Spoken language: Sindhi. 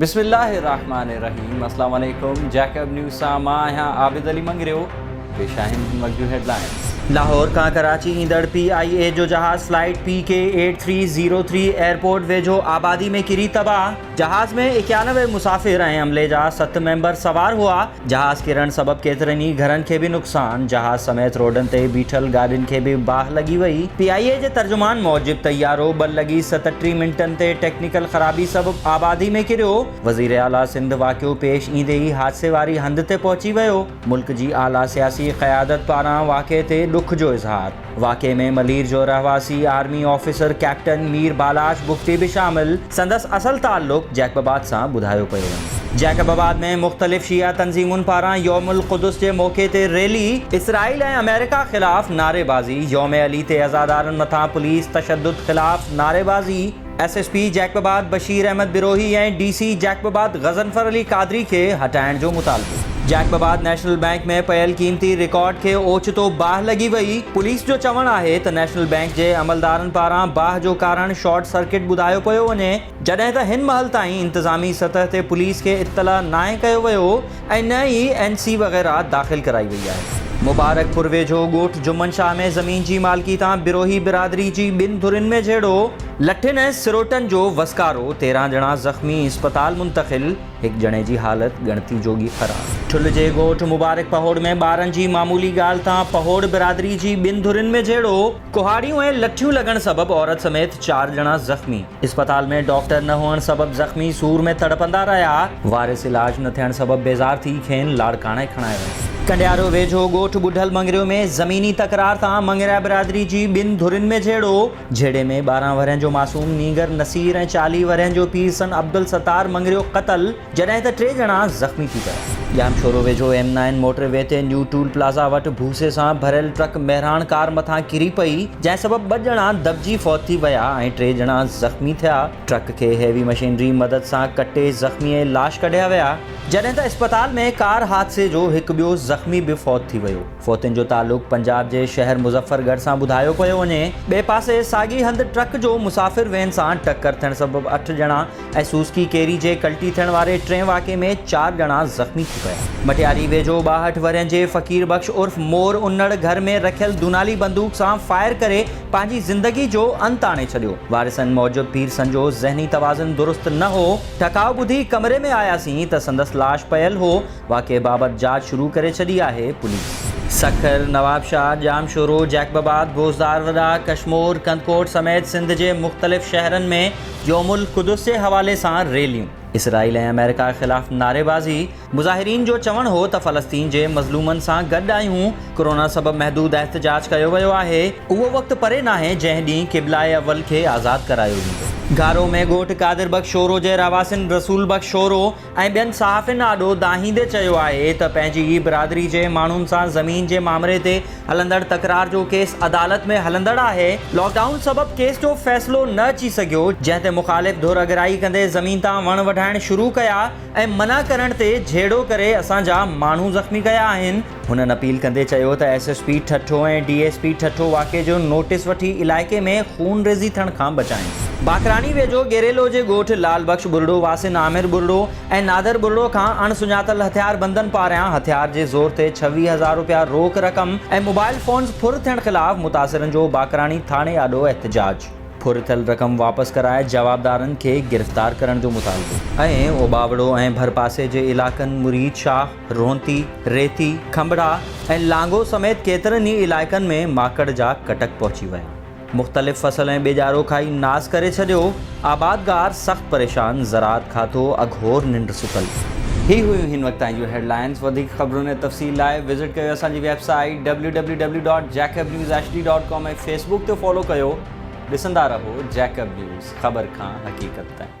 بسم الله الرحمٰن الرحيم السلام عليڪم جيڪب نيوز سان مان آهيان عابد علي مڱريو پيش آهن هن وقت جون هيڊلائنز لاهور کان ڪراچي ايندڙ پي آء اي جو جهاز flight P K eight three zero three airport ويجهو آبادي ۾ ڪري تباهه جهاز ۾ اڪيانوي مسافر ۽ عملي جا ست ميمبر سوار هئا جهاز ڪرڻ سبب ڪيترن ئي گهرن کي به نقصان، جهاز سميت روڊن تي بيٺل گاڏين کي به باهه لڳي وئي. پي آء اي جي ترجمان موجب طيارو ٻه لڳي ستٽيهه منٽن تي ٽيڪنيڪل خرابي سبب آبادي ۾ ڪريو، وزير اعليٰ سنڌ واقعو پيش ايندي ئي حادثي واري هنڌ تي پهچي ويو، ملڪ جي اعليٰ سياسي قيادت پاران واقعي تي ڏک جو اظهار. واقعي ۾ ملير جو رهواسي army officer captain Mir Balach Bugti به شامل. سندس اصل تعلق جيڪب آباد سان ٻڌايو پيو وڃي. جيڪب آباد ۾ مختلف شيعه تنظيمن پاران يوم القدس جي موقعي تي ريلي. اسرائيل ۽ آمريڪا خلاف نعريبازي، يوم علي تي عزادارن مٿان پوليس تشدد خلاف نعريبازي. S S P Jacobabad Bashir Ahmed Brohi ۽ D C Jacobabad Ghazanfar Ali Qadri کي هٽائڻ جو مطالبو. جيڪب آباد نيشنل بئنڪ ۾ پيل قيمتي رڪارڊ کي اوچتو باهه لڳي وئي، پوليس جو چوڻ آهي ته نيشنل بئنڪ جي عملدارن پاران باهه جو ڪارڻ شارٽ سرڪٽ ٻڌايو پيو وڃي، جڏهن ته هن مهل تائين انتظامي سطح تي پوليس کي اطلاع ناهي ڪيو ويو ۽ نه ئي اين سي وغيره داخل ڪرائي وئي آهي. مبارڪ پور ويجهو ڳوٺ جمن شاهه ۾ زمين جي مالڪي تان بروهي برادري جي ٻن ڌرين ۾ جهيڙو. لٺين ۽ سروٽن جو وسڪارو، تيرهن ڄڻا زخمي، اسپتال منتقل، هڪ ڄڻي جي حالت ڳڻتي جوڳي خراب. ٺل جي ڳوٺ مبارڪ پهوڙ ۾ ٻارن جي معمولي ڳالهه تان پهوڙ برادري جي ٻن ڌرين ۾ جهيڙو، ڪهاڙيون ۽ لٺيون لڳڻ سبب عورت سميت چار ڄڻا زخمي، اسپتال ۾ ڊاڪٽر نه هئڻ سبب زخمي سور ۾ تڙپندا رهيا، وارث علاج نه ٿيڻ سبب بيزار ٿي کين لاڙڪاڻي کڻايو ويو. ڪنڊيارو ويجهو ڳوٺ ٻڍل مڱريو ۾ زميني تڪرار تان مڱريا برادري جي ٻن ڌرين ۾ جهيڙو، جهيڙي ۾ ٻارهن ورهين جو معصوم نينگر نصير ۽ چاليهه ورهين جو پير سن عبدالستار مڱريو قتل، جڏهن ته ٽي ڄڻا زخمي ٿي پيا. ڄامشورو ويجهو ايم نائن موٽر وي تي نيو ٽول پلازا وٽ ڀوسي سان ڀريل ٽرڪ مهراڻ ڪار مٿان ڪري پئي، جنهن سبب ٻه ڄڻا دٻجي فوت ٿي ويا ۽ ٽي ڄڻا زخمي ٿيا، ٽرڪ کي هيوي مشينري مدد سان ڪٽي زخمي لاش ڪڍيا ويا، جڏهن ته اسپتال ۾ ڪار حادثي جو هڪ ٻيو زخمي به فوت ٿي ويو. فوتين جو تعلق پنجاب جي شهر مظفر ڳڙهه سان ٻڌايو پيو وڃي. ٻئي پاسي ساڳي هنڌ ٽرڪ جو مسافر وين سان ٽڪر ٿيڻ سبب اٺ ڄڻا ۽ سوزڪي ڪيري جي ڪلٽي ٿيڻ واري ٽئين واقعي ۾ چار ڄڻا زخمي ٿي پيا. مٽياري ويجهو ٻاهٺ ورهين جي فقير بخش عرف مور انڙ گهر ۾ رکيل دونالي بندوق سان فائر ڪري پنهنجي زندگي جو انت آڻي ڇڏيو. وارثن موجب پير سنجو ذهني توازن درست نه هو، ٽهڪاء ٻڌي ڪمري ۾ آياسين ته سندس لاش پيل هو، واقعي بابت جاچ شروع ڪري ڇڏي آهي پوليس. سکر، نوابشاهه، ڄامشورو، جيڪب آباد، گوزدار وڏا، ڪشمور، ڪنڌڪوٽ سميت سنڌ جي مختلف شهرن ۾ يوم القدس جي حوالي سان ريليون، اسرائيل ۽ آمريڪا خلاف نعريبازي، مظاهرين جو چوڻ هو ته فلسطين جي مظلومن سان گڏ آهيون، ڪورونا سبب محدود احتجاج ڪيو ويو آهي، اهو وقت پري ناهي جنهن ڏينهن قبله اول کي آزاد ڪرايو ويندو. گهارو ۾ ڳوٺ قادر بخش شورو جي رهواسين رسول بخش شورو، ۽ ٻين صحافين آڏو دانهيندي چيو آهي ته پنهنجي ئي برادري جي ماڻهن سان زمين جي مامري تي هلندڙ تڪرار جو ڪيس عدالت ۾ هلندڙ آهي، لاڪ ڊائون سبب ڪيس جو فيصلو نه اچي سگهيو، جنهن تي مخالف ڌر اڳرائي ڪندي زمين تان وڻ وڍائڻ شروع ڪيا ۽ منع ڪرڻ تي جهيڙو ڪري اسان جا ماڻهو زخمي ڪيا آهن. هنن اپيل ڪندي چيو ته S S P Thatta ۽ D S P Thatta واقعي جو نوٽيس وٺي علائقي ۾ خونريزي ٿيڻ کان بچائين. باقراڻي ويجهو گيريلو جي ڳوٺ لال بخش ٻرڙو واسين عامر ٻرڙو ۽ نادر ٻرڙو کان اڻ سڃاتل هٿياربندن پاريان هٿيار جي زور تي ڇويهه هزار رپيا روڪ رقم ۽ موبائل فونز ڦر ٿيڻ خلاف متاثرن جو باقراڻي ٿاڻي آڏو احتجاج. ڦر ٿيل رقم واپس ڪرائي جوابدارن کي گرفتار ڪرڻ جو مطالبو. ۽ اوٻاوڙو ۽ ڀرپاسي جي علائقن مريد شاهه، رونتي، ريتي، کنڀڙا ۽ لانگو سميت ڪيترن ئي علائقن ۾ ماڪڙ جا ڪٽڪ پهچي ويا. مختلف فصل ۽ ٻيڄارو کائي ناس ڪري ڇڏيو. آبادگار سخت پريشان، زراعت کاتو اگهور ننڊ ستل. هي هيون هن وقت تائين جون هيڊ لائنز. وڌيڪ خبرن ۽ تفصيل لاء وزٽ ڪيو اسان جي website W W W dot Jacob news H D dot com ۽ Facebook تي فالو ڪيو. ڏسندا رهو جيڪب نيوز، خبر کان حقيقت تائين.